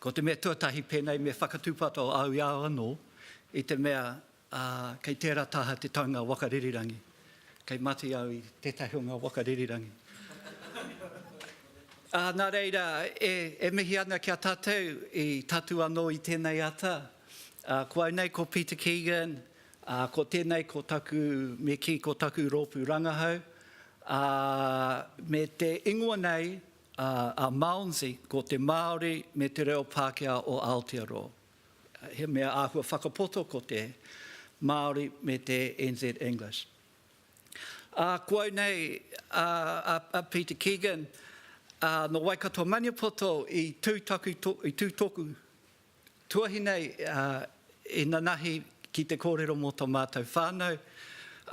Ko te mea tuatahi pēnei me whakatūpato au i a au anō i te mea uh, kei tērā taha te taunga waka ririrangi. Kei mati au i tētahi o ngā waka ririrangi. Uh, nā reira, e, e mihi ana ki a tātou i tatu anō i tēnei ata. Uh, ko au nei ko Peter Keegan, Ā, ko tēnei ko taku, me kī, ko taku rōpū rangahau, ā, me te ingoa nei, a Malmsey, ko te Māori me te reo Pākehā o Aotearoa. He mea āhua whakapoto ko te Māori me te NZ English. Ā, ko au nei, a Peter Keegan, nō Waikato-Maniapoto i tū taku, i tū tōku. Tuahi nei i nanahi ki te kōrero mō tō mātou whānau,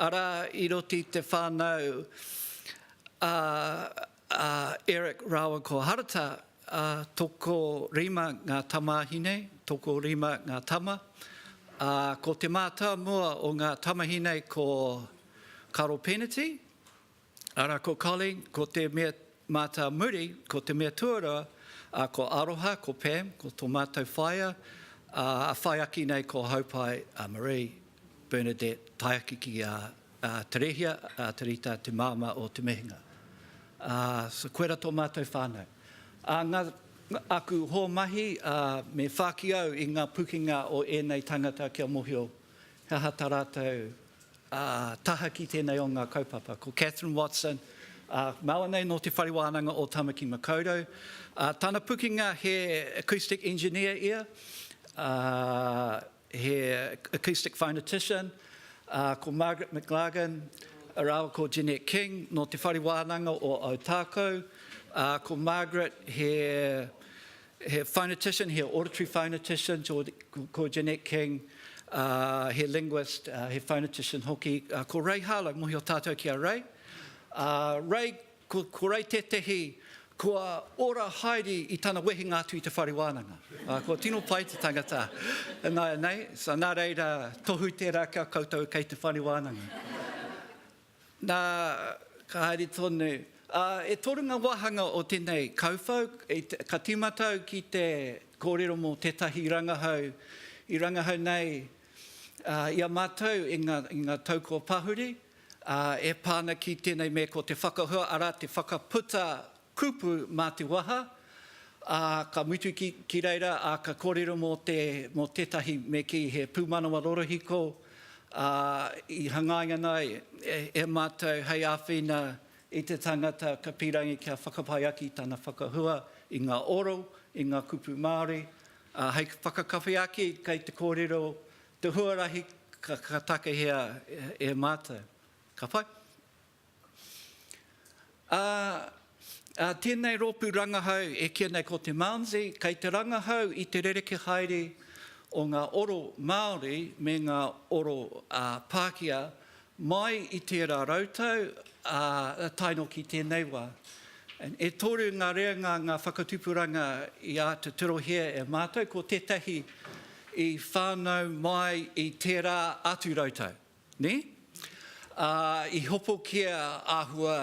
arā i roti i te whānau a Eric rāua ko Harata, tokorima ngā tamāhi nei, tokorima ngā tama, ā, ko te mātāmua o ngā tamahi nei ko Karo Peneti, Ara ko Colleen, ko te mea mātā muri, ko te mea tuarua, a, ko Aroha, ko Pam, ko to mātou whaea, a, a whai aki nei ko Haupai, a Maree, Bernadette, tae aki ki a, a Terehia, a Terita, te māmā o Te Mehinga. A, so koera to mātou whānau. A, nga, nga, aku hō mahi, a, me whāki au i nga pukenga o ēnei tāngata kia mohio he aha ta rātou Ā, tahaki tēnei o ngā kaupapa. Ko Catherine Watson, ā, māua nei nō Te Whare Wānanga o Tamaki Makaurau. Ā, tana pukenga he acoustic engineer ia, ā, he acoustic phonetician. Ā, ko Margaret McLagan rāua ko Jeanette King nō Te Whare Wānanga o Ōtākou. Ā, ko Margaret he He phonetician, he auditory phonetician, ko Jeanette King, uh, he linguist, uh, he phonetician hoki. Uh, ko Ray Harlow, mohi o tātou ki a Ray. Uh, Ray, ko, ko Ray tētehi kua ora haere i tana wehenga atu i te whare wānanga. Uh, kua tino pai te tangata. Nā, nei, so, nā reira, tohu tērā kia koutou kei te whare wānanga. Nā, ka haere tonu. Ā, e toru ngā wāhanga o tēnei kauwhau, ka tīmata au ki te kōrero mō tētahi rangahau i rangahau nei i a mātou i ngā, i ngā tau kua pahuri, ā, e pā ana ki tēnei mea ko te whakahua, arā, te whakaputa Kupu mā te waha, ā, ka mutu ki, ki reira, ā, ka kōrero mō te, mō tētahi me kī he pūmanawa rorohiko, ā, i hangaia ana e, e mātou hei āwhina i te tangata ka pīrangi kia whakapai ake i tana whakahua i ngā oro, i ngā kupu Māori, ā, hei whakakawhe ake kei te kōrero te huarahi ka, ka takahia e, e mātou. Ka pai? Ā, ā tēnei rōpū rangahau e kīa nei ko te Malmsey, kei te rangahau i te rerekē haere o ngā oro Māori me ngā oro Pākehā mai i tērā rautau, ā, tae noa ki tēnei wā. E toru ngā reanga, ngā whakatupuranga i āta tirohia e mātou, ko tētahi i whānau mai i tērā atu rautau. Nē? Ā, i hopokia āhua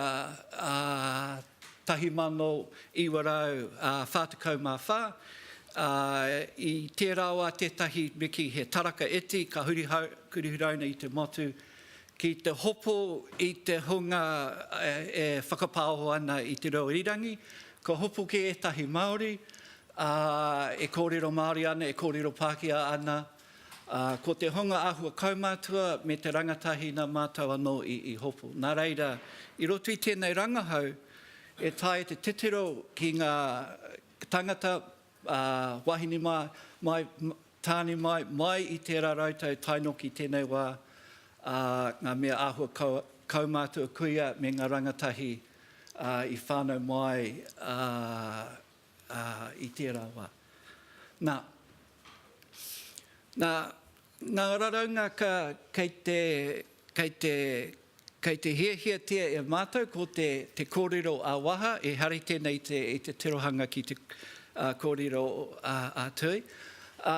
1944, ā, i tērā wā tētahi miki he taraka iti ka huri huraina i te motu ki te hopo i te hunga e whakapāoho ana i te reo irirangi, kua hopoki ētahi Māori, ā, e kōrero Māori ana, e kōrero Pākehā ana, Ā, ko te honga āhua kaumātua me te rangatahi nā mātou anō i, i hopu. Nā reira, i roto i tēnei rangahau, e taea te titiro ki ngā tangata, ā, wāhine mā, mai, tāne mai, mai i tērā rautau tae noa ki tēnei wā, ā, ngā mea āhua kau, kaumātua kuia me ngā rangatahi, ā, i whānau mai, ā, ā, i tērā wā. Nā, nā ngā raraunga ka, kei te, kei te, kei te hiahiatia e mātou ko te, te kōrero ā-waha, ehara i tēnei i te, i te tirohanga ki te, ā, kōrero ā-tui. Ā,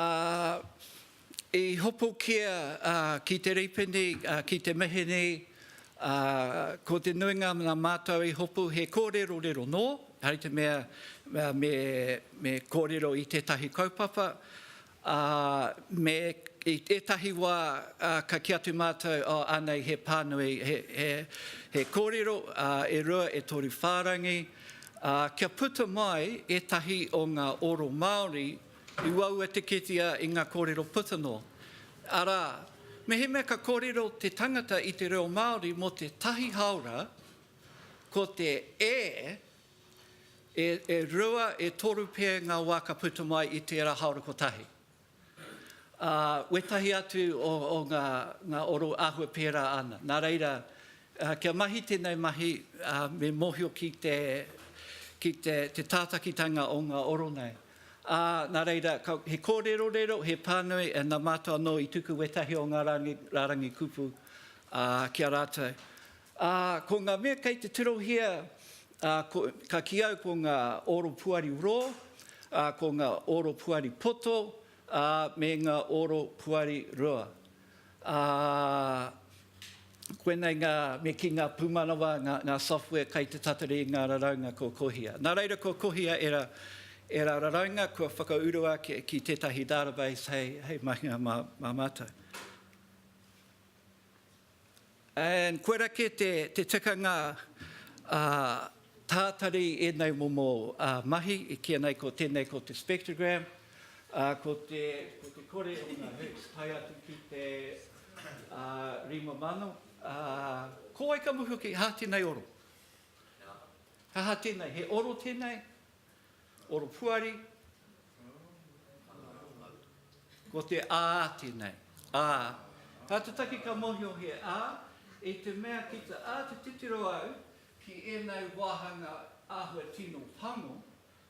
I hopokia ki te ripene, ki te mihi nei, ko te nuinga na matou i hopu he korerorero no, hai te mea me korero i tetahi kaupapa, me i etahi wa ka ki atu matou oh anei he panui, he korero e rua e toru wharangi, kia puta mai etahi o nga oro Maori, I uaua te kitea i ngā kōrero putano, arā, mehemea ka kōrero te tangata i te reo Māori mō te tahi hāora, ko te e, e, e rua, e toru pea ngā wā ka puta mai i tērā hāora kotahi. Ā, wētahi atu o, o ngā, ngā oro āhua pērā ana. Nā reira, kia mahi tēnei mahi, ā, me mōhio ki te, ki te, te tātakitanga o ngā oro nei. Ā, nā reira, he kōrerorero, he pānui, ā, nā Mātou anō i tuku wētahi o ngā rārangi, rārangi kupu, ā, ki a rātou. Ā, ko ngā mea kei te tirohia, ā, ko, ka kī au ko ngā oro puari rō, ā, ko ngā oro puari poto, ā, me ngā oro puari rua. Ā, koinei ngā, me kī, ngā pūmanawa, ngā, ngā software kai te tatari i ngā raraunga kua kohia. Nā reira kua kohia ērā, ērā raraunga kua whakauru ake ki tētahi database hei, hei mahinga mā, mā mātou. And koira kē te tikanga tātari ēnei momo mahi i kīia nei ko tēnei ko te spectrogram, ko te kore o ngā Hz tae atu ki te 5000. Ko wai ka muhu ki, hā tēnei oro. Hā tēnei, he oro tēnei, Oropuari, Ko te a tenei, a. Ka te take ka mohio he a, i te mea ki te a te titiro au ki enei wahanga ahua tino pango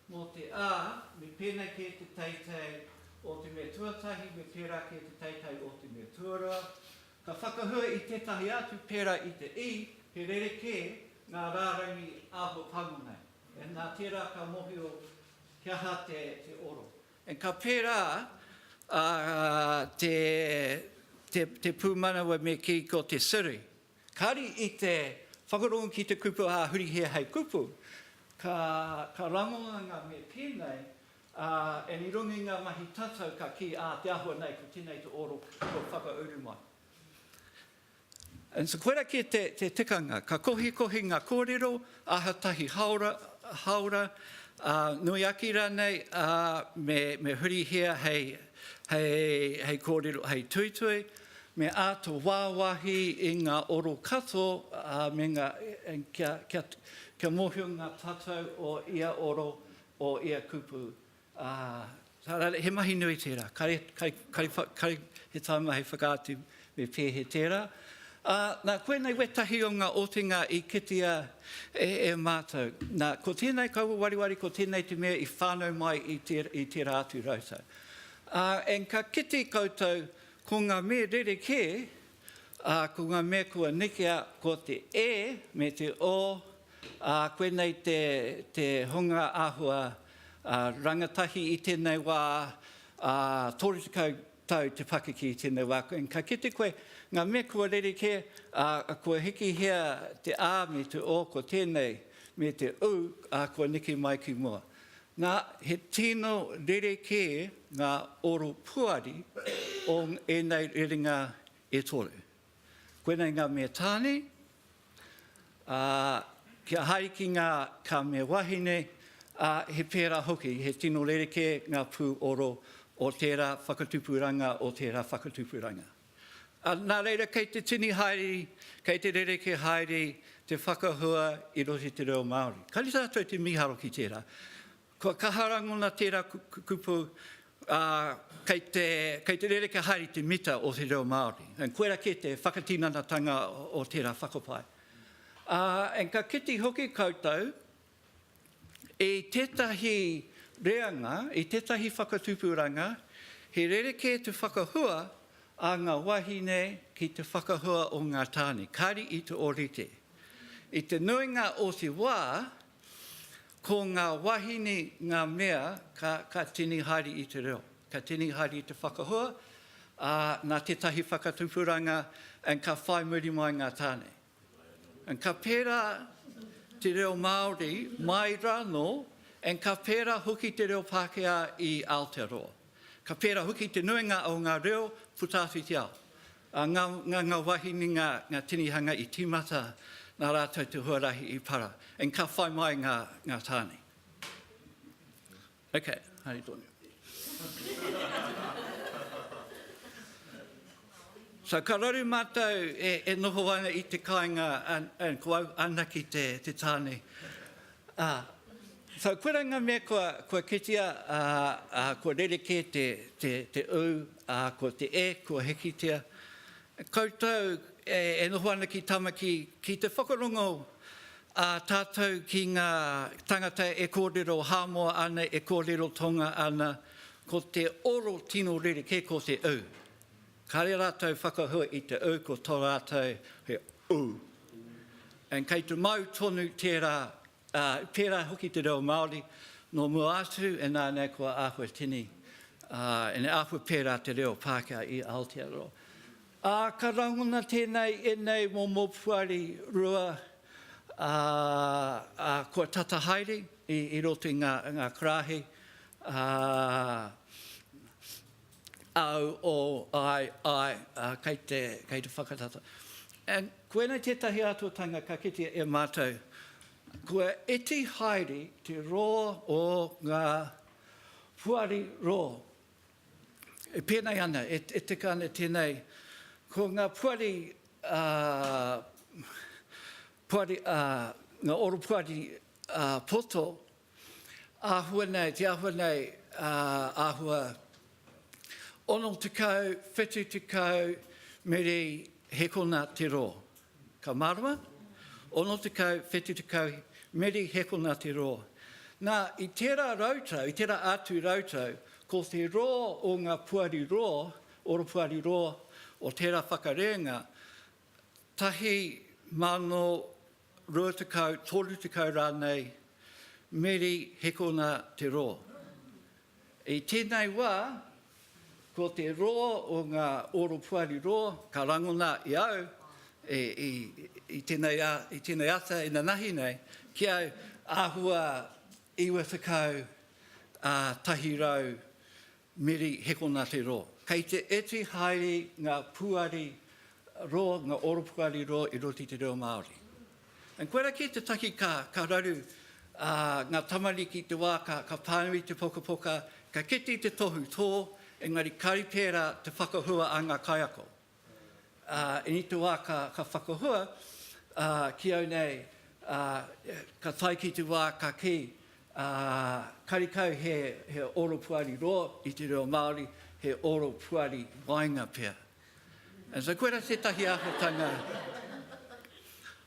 mo te a me penei ke te teitei o te mea tuatahi me pera ke te teitei o te mea tuarua, ka whakahua i tetahi atu pera i te i, he rerekē nga rarangi ahua pango nei. And nā tērā ka mōhio he aha te oro. And ka pērā te pūmanawa me kī ko te Siri. Kāri i te whakarongo ki te kupu ā huri hē hei kupu, ka rangonganga me pēnei, and i runga i ngā mahi tatau ka kī ā te āhua nei ko tēnei te oro kua whakauru mai. And so koirā kē te tikanga, ka kohikohi ngā kōrero, aha tahi hāora, hāora, ā, nui ake rānei, ā, me, me hurihia hei, hei, hei kōrero, hei tuitui, me āta wāwahi i ngā oro kato, ā, me ngā, kia, kia, kia mōhio ngā tatau o ia oro, o ia kupu, Ā, tā rātou, he mahi nui tērā. Kai, kai, kai, kai he tāima hei whakaatu me pēhea tērā. Ā, nā, koinei wētahi o ngā otinga i kitea e, e mātou. Nā, ko tēnei kaua wariwari, ko tēnei te mea i whānau mai i, tē, i tērā atu rautau. Ā, and ka kite koutou ko ngā mea rerekē, ā, ko ngā mea kua nekea, ko te e me te o, ā, koinei te, te hunga āhua Rangatahi i tēnei wā, ā, 30 tau te pakeke i tēnei wā. Ka kite koe ngā mea kua rerekē, ā, kua hikihia te ā me te o, ko tēnei me te ū, ā, kua neke mai ki mua. Nā, he tino rerekē ngā oro puari o ēnei rerenga e toru. Koinei ngā mea tāne, ā, kia haere ki ngā ka mea wahine, ā, he pērā hoki, he tino rerekē ngā pū oro o tērā whakatupuranga, o tērā whakatupuranga. Ā, nā reira, kei te tini haere, kei te rerekē haere te whakahua i roto i te reo Māori. Kāre tātou te mīharo ki tērā. Kua kaha rangona tērā kupu, ā, kei te, kei te rerekē haere i te mita o te reo Māori. And koirā kē te whakatinanatanga o tērā whakapae. Ā, and ka kite hoki koutou i tētahi reanga, i tētahi whakatupuranga, he rerekē te whakahua a ngā wāhine ki te whakahua o ngā tāne, kāri i te ōrite. I te nuinga o te wā, Ko ngā wāhine ngā mea ka, ka tini haere i te reo, ka tini haere i te whakahua, ā, nā tētahi whakatupuranga, and ka whai muri mai ngā tāne. And ka pērā te reo Māori mai rānō, and ka pērā hoki te reo Pākehā i Aotearoa. Ka pērā hoki te nuinga o ngā reo puta atu i te ao. A nga nga nga wahine nga nga tinihanga i timata na ratou te huarahi i para and ka whai mai nga nga tane. Okay, hari tonu. So ka raru matou e e noho ana i te kainga and and ko au anaki te te tane. Ā, whai koe rā ngā mea kua kitea, ā, kua rerekē te ū, ā, ko te e kua hikitia. Koutou e noho ana ki Tamaki, ki te whakarongo ā tātou ki ngā tāngata e kōrero Hāmoa ana, e kōrero Tonga ana, ko te oro tino rerekē ko te ū. Kare ratou whakahua i te u ko to ratou he u. And kei te mau tonu tera, a, tera hoki te reo Maori, no mua atu e nanei kua ahua tini, a, ene ahua pera te reo Pakea i Aotearoa. A, ka rangona tenei enei momo puari rua, a, a, kua tata haere i, i roto i nga, nga karahi, a, Au, O, āe, āe, ā, kei te, kei te whakatata. And, koinei tētahi āhuatanga ka kitea e mātou, kua iti haere te roa o ngā poari roa. E pēnei ana, e, e tika ana tēnei, ko ngā poari, ā, poari, ā, ngā oropoari, ā, poto, Āhua nei, te āhua nei, āhua 60, 70 mere he kona te rō. Ka mārama, 60, 70 mere he kona te rō. Nā, i tērā rautau, i tērā ātu rautau, ko te rō o ngā puari rō, oropuari rō, o tērā whakarēnga, 1020, 30 rānei meri hekona te rō. I tēnei wā, ko te rō o ngā oropuari rō ka rangona i au, i tēnei ata inanahi nei, ki au āhua 91 Meri Hekonate Ro. Kei te iti haere nga puari ro, nga oropuari ro i roti te reo Maori. And koira ki te taki ka ka raru a nga tamariki i te wa ka ka panui te pokapoka, ka kite i te tohu to, engari kari pera te whakahua a nga kaiako. I te wā ka whakahua ki au nei, ka tae ki te wā ka kī, karekau he oro puari roa i te reo Māori, he oro puari waenga pea. And so koira tētahi āhuatanga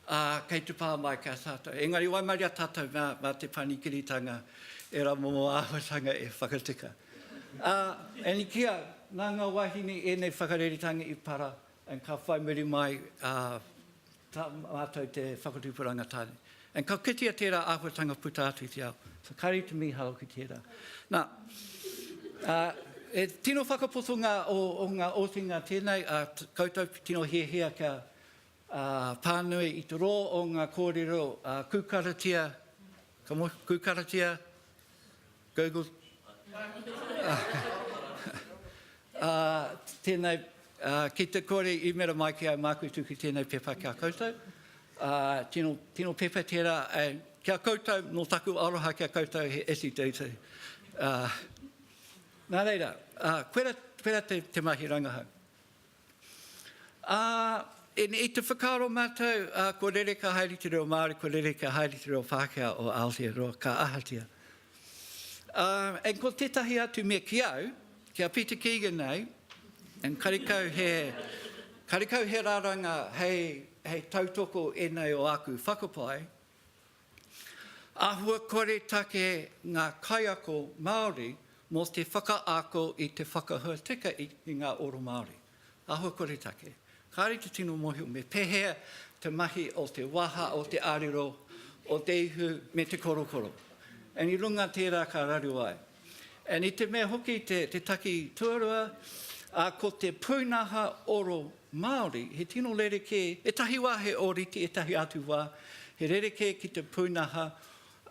Ā, kei te pā mai ki a tātou. Engari waimaria tātou mā, mā te panikiritanga ērā momo āhuatanga e whakatika. Ā, e niki au, nā ngā wāhine ēnei whakareretanga i para, and ka whai muri mai tā mātou te whakatupu rangatāne. And ka kitea tērā āhuatanga puta atu i te ao. So kāre i te mīharo ki tērā. Nā, ā, he tino whakapotonga o, o ngā otinga tēnei, ā, koutou tino hiahia kia Ā, pānui i te rō o ngā kōrero ā kūkaratia, ka moe, kūkaratia, Google, ā, tēnei, ā, ki te kore i mera mai ki au māku tuku tēnei pepa ki a koutou, ā, tino, tino pepa tērā e, ki a koutou, nō taku aroha ki a koutou he iti teiti, ā, nā reira, ā, koira, koira te, te mahi rangahau. Ā, i, i te whakaaro mātou, ā, kua rere ka haere te reo Māori, kua rere ka haere te reo Pākehā o Aotearoa, ka ahatia. Ā, and ko tētahi atu mea ki au, ki a Peter Keegan nei, and karekau he, karekau he raranga hei, hei tautoko ēnei o āku whakapae, Ahuakore take ngā kaiako Māori mō te whakaako i te whakahua tika i ngā oro Māori. Ahuakore take. Kāre te tino mōhio me pēhea te mahi o te waha, o te arero, o te ihu me te korokoro. And i runga tērā ka rarua ai. And i te mea hoki te, te taki tuarua, a, ko te pūnaha oro Māori, he tino rerekē, etahi wā he ōrite, etahi atu wā, he rerekē ki te pūnaha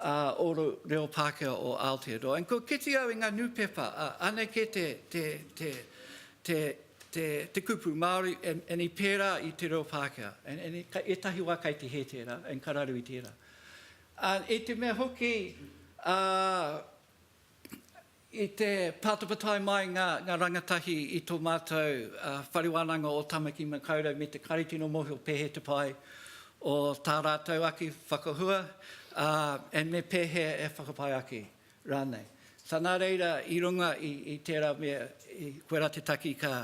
a, oro reo Pākehā o Aotearoa. And kua kite au i ngā nūpepa, a, anake te, te, te, te, te, te kupu Māori, and, and i pērā i te reo Pākehā. And, and etahi wā kai te hē tērā, and ka raru i tērā. Ā, i te mea hoki, ā, i te pātapatai mai ngā, ngā rangatahi i tō mātou, ā, Whare Wānanga o Tāmaki Makaurau me te Kāri Tino Mōhio pēhea te pai o tā rātou ake whakahua, ā, and me pēhea e whakapai ake rānei. Nā reira, i runga i, i tērā mea, i koirā te taki ka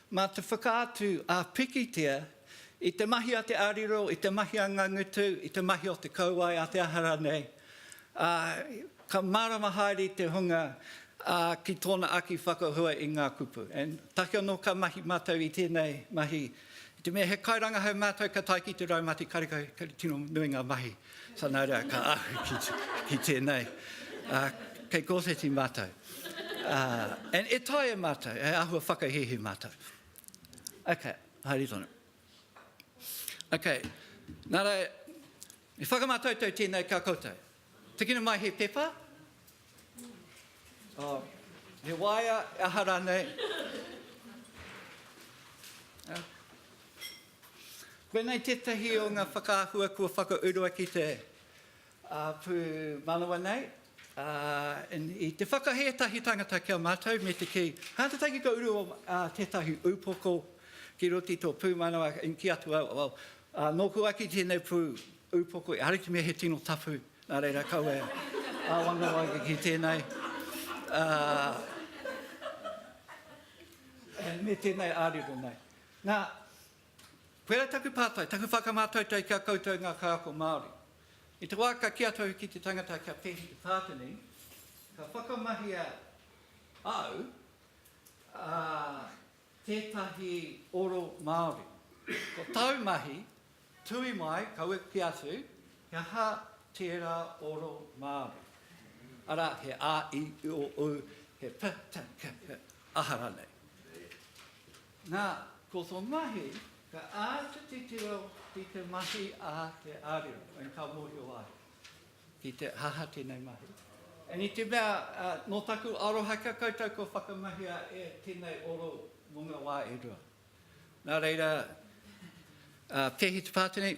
Mā te whakaatu a pikitia i te mahi a te arero, i te mahi a ngā ngutu, i te mahi o te kauae a te aha ranei, ā, ka mārama haere te hunga ki tōna aki whakahua i ngā kupu. And take anō ka mahi mātou i tēnei mahi, i te mea he kairangahau mātou ka tae ki te raumati karekau, kei te tino nui ngā mahi. So nā reira ka ahu ki, ki tēnei. Uh, kei kōwheti mātou. Uh, and e tae e mātou, e ahua whakahihi mātou. Ok, haere tonu. Ok, nā reira, i whakamātoutou tēnei ka koutou. Tikina mai he pepa. Oh, he waia, aha rānei. Uh, Koinei tētahi o ngā whakaahua kua whakaurua ki te pūmanawa nei. I te whakahē ētahi tangata ki a mātou me te kī, kāta taki ka uru tētahi upoko ki roto i tō pūmanawa, i kī atu au, nōku ake tēnei pū upoko, ehara i te mea he tino tapu, nā reira kau e āwangawanga ake ki tēnei. Me tēnei ārero nei. Nā, koirā taku pātai, taku whakamātautai ki a koutou ngā kaiako Māori. I te wā ka kī atu au ki te tangata kia pēhi te kāta nei, ka whakamahia au a tētahi oro Māori. Ko tāu mahi, tūi mai, kaua kī atu, he aha tērā oro Māori? Arā, he a, i, o, u, he p, t, k, p, aha rānei. Nā, ko tō mahi, ka āta titiro ki te mahi a te ariā, and ka mōhio ai ki te aha tēnei mahi. And i te mea, nō taku aroha ki a koutou kua whakamahia e tēnei oro mō ngā wā e rua. Nā reira, pēhi te pātenei?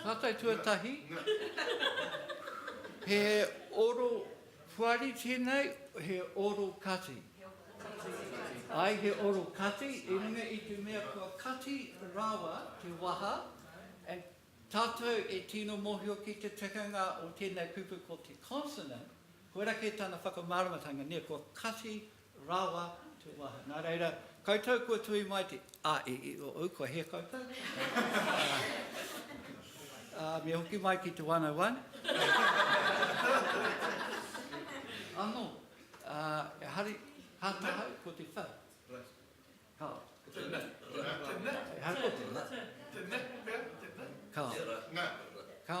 Tātai tuatahi, he oro whari tēnei, he oro kati. Āe, he oro kati, i runga i te mea kua kati rawa te waha, and tātou e tino mōhio ki te tikanga o tēnei kupu ko te consonant, koira kē tana whakamāramatanga, nē, kua kati Rawa te wa. Na reira, koutou kua tuhi mai te. A, e, e, o, ou, kua hea koutou. A, a, me hoki mai ki te 101. Ano, a, e hari, ha tahau, ko te whau. Ka. Te na. Te na. E ha ko te na. Te na, pea, te na. Ka. Nga. Ka.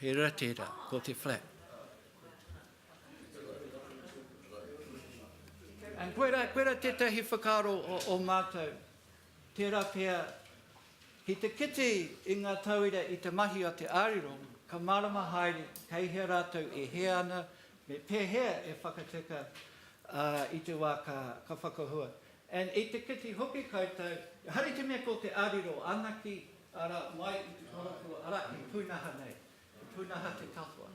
He ra tera, ko te flat. And koe ra, koe ra tetahi whakaro o, o mātou, tera pea, ki te kiti i ngā tauira i te mahi a te ariro, ka marama haere kei hea rātou e hea ana, me pehea e whakateka uh, i te wā ka, ka whakahua. And i te kiti hoki koutou, hari te mea ko te ariro anaki, Arā, mai i te koropu, arā, he pūnaha nei, he pūnaha te katoa.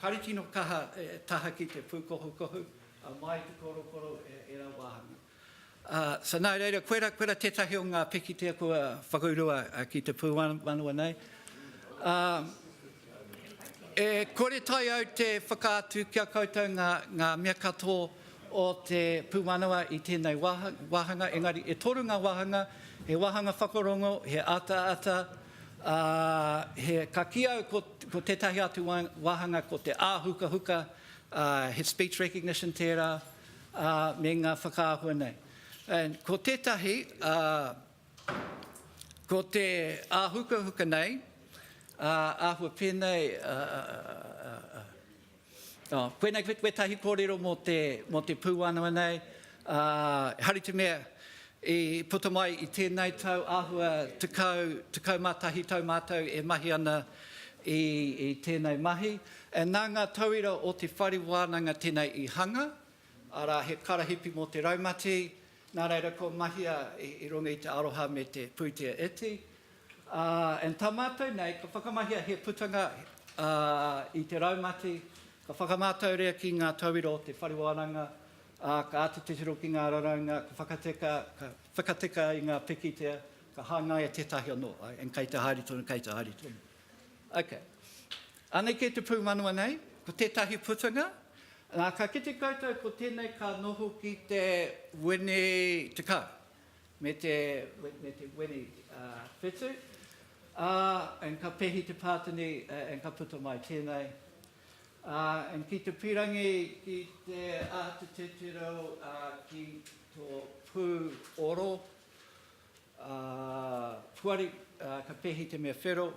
Kāre tino kaha e taha ki te pūkohukohu, mai i te korokoro ērā wāhanga. So nā reira, koera, koera tētahi o ngā pikitia kua whakaurua ki te pūmanawa nei. E kore tae au te whakaatu ki a koutou ngā, ngā mea katō o te pūmanawa i tēnei waha, wāhanga, engari e toru ngā wāhanga, he wāhanga whakarongo, he ataata, ā, he, ka kī au ko, ko tētahi atu wā, wāhanga ko te āhukahuka, ā, he speech recognition tērā, ā, me ngā whakaahua nei. And ko tētahi, ā, Ko te āhukahuka nei, āhua pēnei, koinei wētahi kōrero mō te pūanawa nei, hari te mea i puta mai i tēnei tau āhua tekau, tekau mā tahi tau mātou e mahi ana i tēnei mahi. Nā ngā tauira o Te Whare Wānanga tēnei i hanga, arā, he karahipi mō te raumati, Nā reira kua mahia i runga i te aroha me te pūtea iti. And tā mātou nei, ka whakamahia he putanga i te raumati, ka whakamātauria ki ngā tauira o te whare wānanga, ka āta titiro ki ngā raraunga, ka whakateka, ka whakateka i ngā pikitia, ka hangaia tētahi anō, and kei te haere tonu, kei te haere tonu. Ok. Anake te pūmanawa nei, ko tētahi putanga, nā, ka kite koutou ko tēnei ka noho ki te wini tekau, me te, me te wini uh, whitu, uh, and ka pehi te pātini, uh, and ka puta mai tēnei. Uh, and ki te pirangi, ki te āta tētero uh, ki tō pū oro, Ā, puari, ā, ka pēhi te mea whero,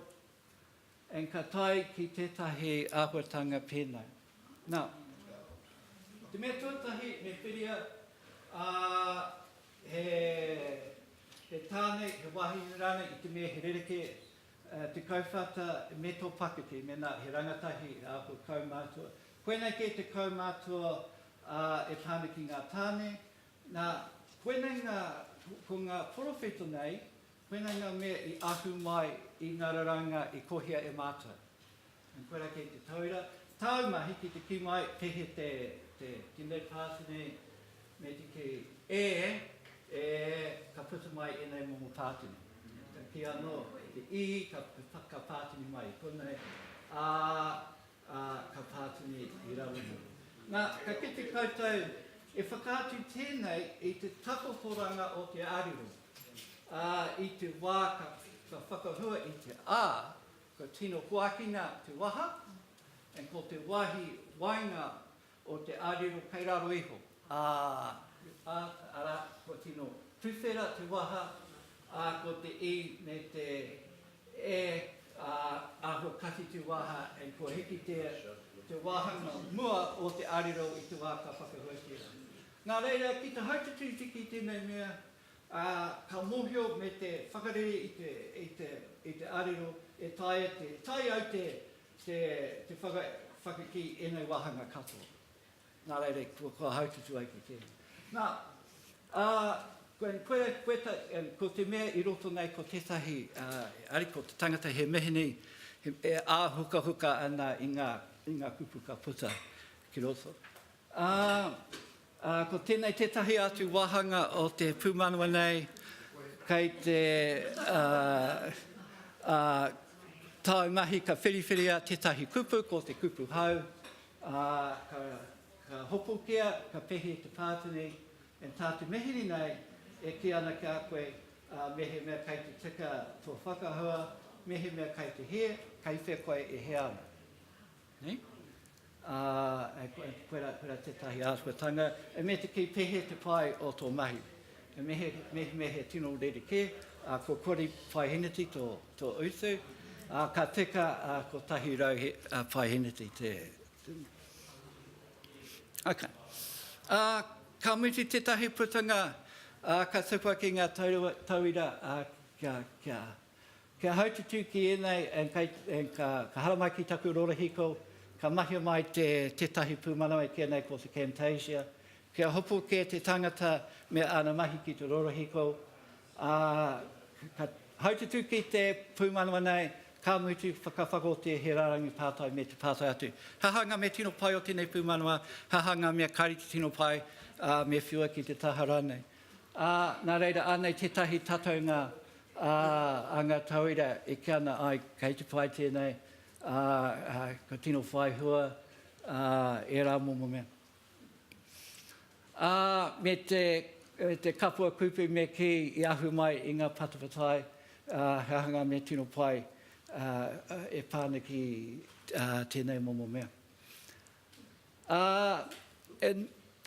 and ka tae ki tētahi āhuatanga pēnā. Nā, te mea tuatahi me whiria, ā, he, he tāne, he wāhine rānei i te mea he rerekē te kauwhata me tō pakeke, mēnā he rangatahi e āhua kaumātua. Koinei kē te kaumātua, ā, e tāne ki ngā tāne, Nā, koinei ngā, ko ngā porowhito nei, koinei ngā mea i ahu mai i ngā raraunga i kohia e Mātou. And koirā kei te tauira, tāu mahi ki te kī mai, kei hea te, te, te mea pāti nei, me te kī, ē, ē, ka puta mai ēnei momo pāti nei. Ka kī anō, te ī, ka, ka pātini mai i konei, ā, Ā, ka pā tonu e te Irāwhiti. Nā, ka kite koutou e whakaatu tēnei i te takotoranga o te arero, ā, i te wā ka, ka whakahua i te ā, kua tino hoakina te waha, and ko te wāhi waenga o te arero kei raro iho, ā, ā, arā, kua tino tuwhera te waha, ā, ko te i me te e, ā, aho kati te waha, and kua hiki te, te wāhanga mua o te arero i te wā ka whakahuatia. Nā reira, ki te hautititiki i tēnei mea, ā, ka mōhio me te whakarere i te, i te, i te arero e taea te tae ai te Te whakakī ēnei wāhanga katoa. Nā reira, kua haututu ai ki tēnei. Nā, ko te mea i roto nei ko tētahi, ari ko te tangata he meheni, e āhukahuka ana i ngā kupu ka puta ki roto. Ā, ā, ko tēnei tētahi atu wāhanga o te pūmanawa nei, kei te, ā, ā, tāu mahi ka whiriwhiria tētahi kupu, ko te kupu hau, ā, ka, ka hopukia, ka pehe te pātini, and tā te mihini nei e kī ana ki a koe, ā, mehemea kei te tika tō whakahua, mehemea kei te hē, kei whe koe e hē ana. Nei? Ā, koirā, koirā tētahi āhuatanga, e me te kei pēhea te pai o tō mahi. E mehe, mehe, mehe tino rerekē, ā, ko Kori Paiheneti tō, tō utu, ā, ka teka ā, ko Tahi Rau he, ā, Paiheneti te, te... Ok. Ā, ka mutu tētahi putanga, ā, ka tupu ake ngā tauira, ā, kia, kia... Kia haututū ki ēnei and ka haramai ki taku rorohiko, ka mahia mai tētahi pūmanawa e kīia nei ko te Camtasia, kia hopu kē te tangata me āna mahi ki te rorohiko, ā, ka haututū ki te pūmanawa nei, ka mutu whakawhakaotia he rārangi pātai me te pātai atu. He aha ngā mea tino pai o tēnei pūmanawa, he aha ngā mea kāre te tino pai, ā, me whiua ki te taha rānei. Ā, nā reira, anei tētahi tataunga a ngā tauira e kī ana, āe, kei te pai tēnei, ā, kua tino whai hua ērā momo mea. Ā, me te kapua kupu me kī i ahu mai i ngā patapatai, ā, he aha ngā mea tino pai e pā ana ki tēnei momo mea. Ā, e,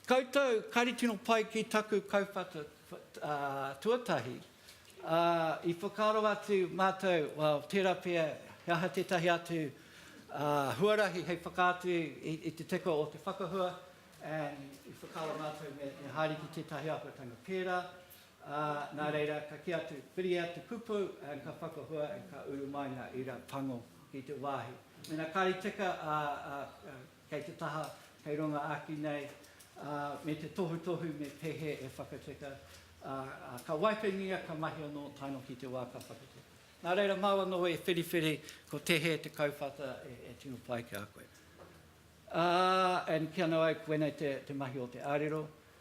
koutou kare tino pai ki taku kauwhata, ā, tuatahi, ā, i whakaaro atu mātou, well, tērā pea, he aha tētahi atu, ā, huarahi hei whakaatu i, i te teko o te whakahua, and i whakaaro mātou me, me haere ki tētahi āhuatanga pērā. Ā, nā reira, ka kī atu, Whiria te kupu, ā, ka whakahua, ā, ka uru mai ngā ira pango ki te wāhi. Mēnā kāre i tika, ā, ā, ā, kei te taha, kei runga āki nei, ā, me te tohutohu me te hē e whakatika, ā, ā, ka waipengia, ka mahi anō taino ki te wā ka whakatika. Nā reira, māu anō e whiriwhiri, ko te hē te kauwhata e, e tino pai ki a koe. Ā, and kīa nō au, koinei te, te mahi o te ārero,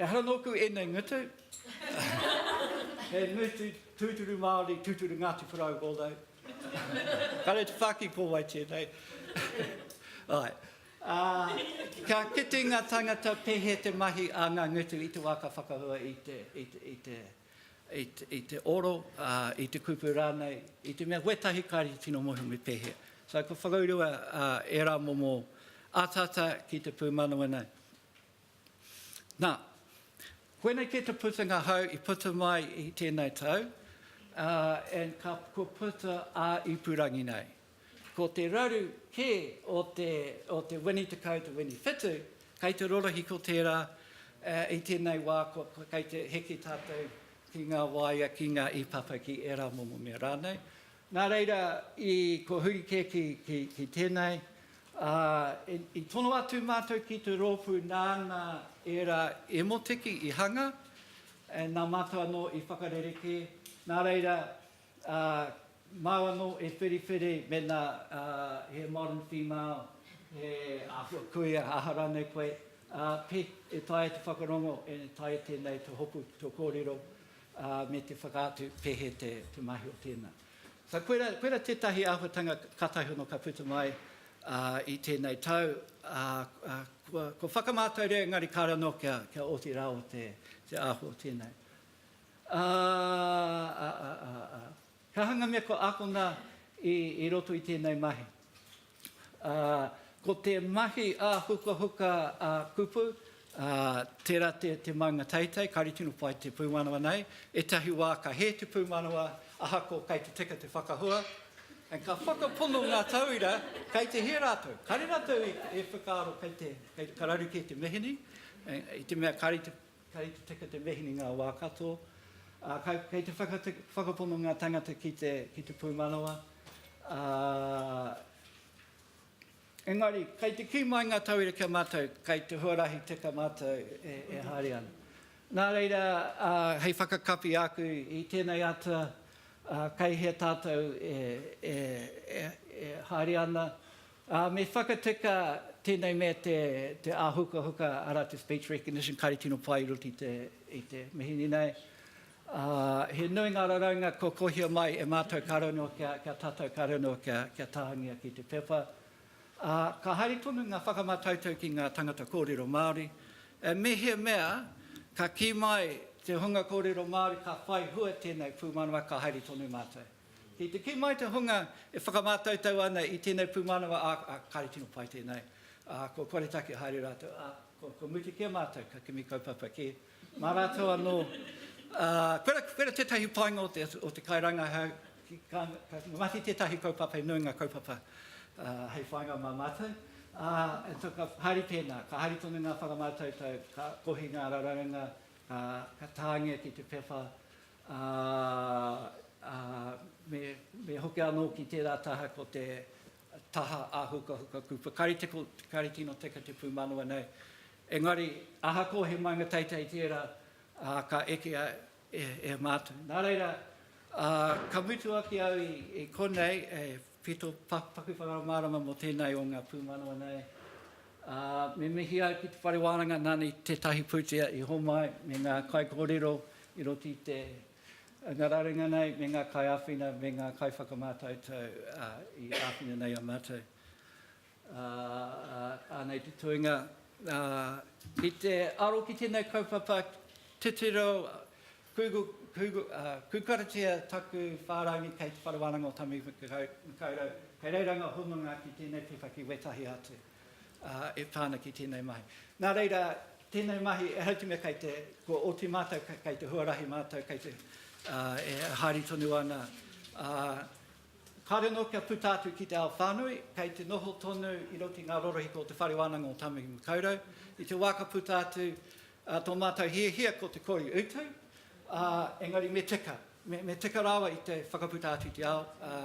Ehara nōku ēnei ngutu. He ngutu tūturu Māori, tūturu Ngāti Porou wōnau. Kare te whāki ko wai tēnei. Ai. Ā, ka kite ngā tāngata pēhea te mahi a ngā ngutu i te wā ka whakahua i te, i te, i te, i te, i te oro, ā, i te kupu rānei, i te mea wētahi kāre te tino mohi me pēhea. So, kua whakaurua ā, ērā momo ataata ki te pūmanawana. Nā, koinei kē te putanga hau i puta mai i tēnei tau, ā, and ka, kua puta ā-ipurangi nei. Ko te raru kē o te, o te wini tekau, te wini whitu, kei te rorohiko tērā, ā, i tēnei wā kua, kua kei te heke tātou ki ngā waea, ki ngā ipapa, ki ērā momo mea rānei, Nā reira, i kua huri kē ki, ki, ki tēnei, ā, i, i tono atu mātou ki te rōpū nāna ērā emoteki i hanga, ā, nā mātou anō i whakarerekē, nā reira, ā, māu anō e whiriwhiri mēnā, ā, he modern female, he āhua kuia, aha rānei koe, ā, pē, e taea te whakarongo, e taea tēnei te hopu ki tō kōrero. ā, me te whakaatu pēhea te mahi o tēnā. Ka koira, koira tētahi āhuatanga kātahi ono ka puta mai ā, i tēnei tau, ā, ā, kua, kua whakamātauria engari kāre anō kia, kia oti rāua te, te āhua o tēnei. Ā, ā, ā, ā, ā. He aha ngā mea kua ākona i roto i tēnei mahi? Ko te mahi ā-hukahuka, ā-kupu, tērā te maunga teitei, kāore tino pai te pūmanawa nei. Ētahi wā ka hē te pūmanawa, ahakoa kei te tika te whakahua. Ka whakapono ngā tauira kei te hē rātou. Kāore rātou e whakaaro kei te, ka raru kē te mihini, i te mea kāore te Kei te tika te mihini ngā wā katoa, ā, kei te whakapono ngā tangata ki te, ki te pūmanawa, ā, engari, kei te kī mai ngā tauira ki a mātou, kei te huarahi tika mātou e, e haere ana. Nā reira, ā, hei whakakapi āku i tēnei atua, ā, kei hea tātou e, e, e, e haere ana, Ā, me whakatika tēnei mea te, te āhukahuka, arā, te speech recognition, kāre tino pai i roto i te, i te mihini nei. Ā, he nui ngā raraunga kua kohia mai e mātou kāore noa kia, kia tātou kāore noa kia, kia tāngia ki te pepa. Ā, ka haere tonu ngā whakamātautau ki ngā tangata kōrero Māori, ā, mehemea ka kī mai te hunga kōrero Māori ka whai hua tēnei pūmanawa ka haere tonu mātou. Kei te kī mai te hunga e whakamātautau ana i tēnei pūmanawa, ā, ā, kāre tino pai tēnei, ā, kua koretake haere rātou, ā, kua, kua mutu kē mātou, ka kimi kaupapa kē mā rātou anō. Ā, koira, koira tētahi painga o te, o te kairangahau, ka, ka mahi tētahi kaupapa e nui ngā kaupapa ā, hei whainga mā mātou. Ā, e to, ka haere tēnā, ka haere tonu ngā whakamātautau, ka kohi ngā raraunga, ka, ka tāngia ki te pepa, ā, ā, me, me hoki anō ki tērā taha ko te taha āhukahuka kupa. Kāre te, kāre tino teka te pūmanawa nei. Engari, ahakoa he maunga teitei tērā, ā, ka ekea e, e mātou. Nā reira, ā, ka mutu ake au i, i konei, e, Ki tō paku whakamārama mō tēnei o ngā pūmanawa nei, me mihi ai ki te whare wānanga nāna i tētahi pūtea i homai me ngā kaikōrero i roto i te anga rarenga nei me ngā kaiāwhina me ngā kaiwhakamātautau i āwhina nei a mātou. Anei te toenga, ki te aro ki tēnei kaupapa titiro Kūkaratia taku whārangi kei Te Whare Wānanga o Tāmaki-makau-rau, kei reira ngā hononga ki tēnei pipa ki wētahi atu e pā ana ki tēnei mahi. Nā reira, tēnei mahi, ehara i te mea kei te, kua oti mātou, kei te huarahi mātou, kei te, e haere tonu ana, ā, kāore anō kia puta atu ki te ao whānui, kei te noho tonu i roto i ngā rorohiko o Te Whare Wānanga o Tāmaki-makau-rau. I te wā ka puta atu, Ā, tō mātou hiahia ko te kori utu, ā, engari me tika, me, me tika rawa i te whakaputa atu i te ao, ā,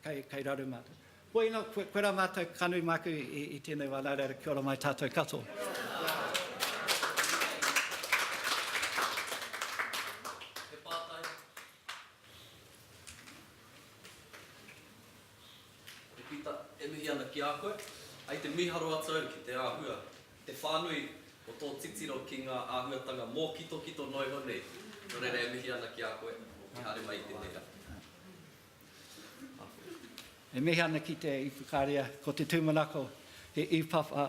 kei, kei raru mātou. Bueno, koe, koe rā mātou, ka nui māku i, i, i tēnei wā, nā reira kia ora mai tātou katoa. Te Pita, e mihi ana ki a koe. Ai te miharo atu au ki te āhua, ki te whānui o tō titiro ki ngā āhuatanga mōkitokito noa iho nei. Nō reira e mihi ana ki a koe, e haere mai i tēnei rā. Awhe. E mihi ana ki te Ipukaria, ko te tūmanako he Ipapa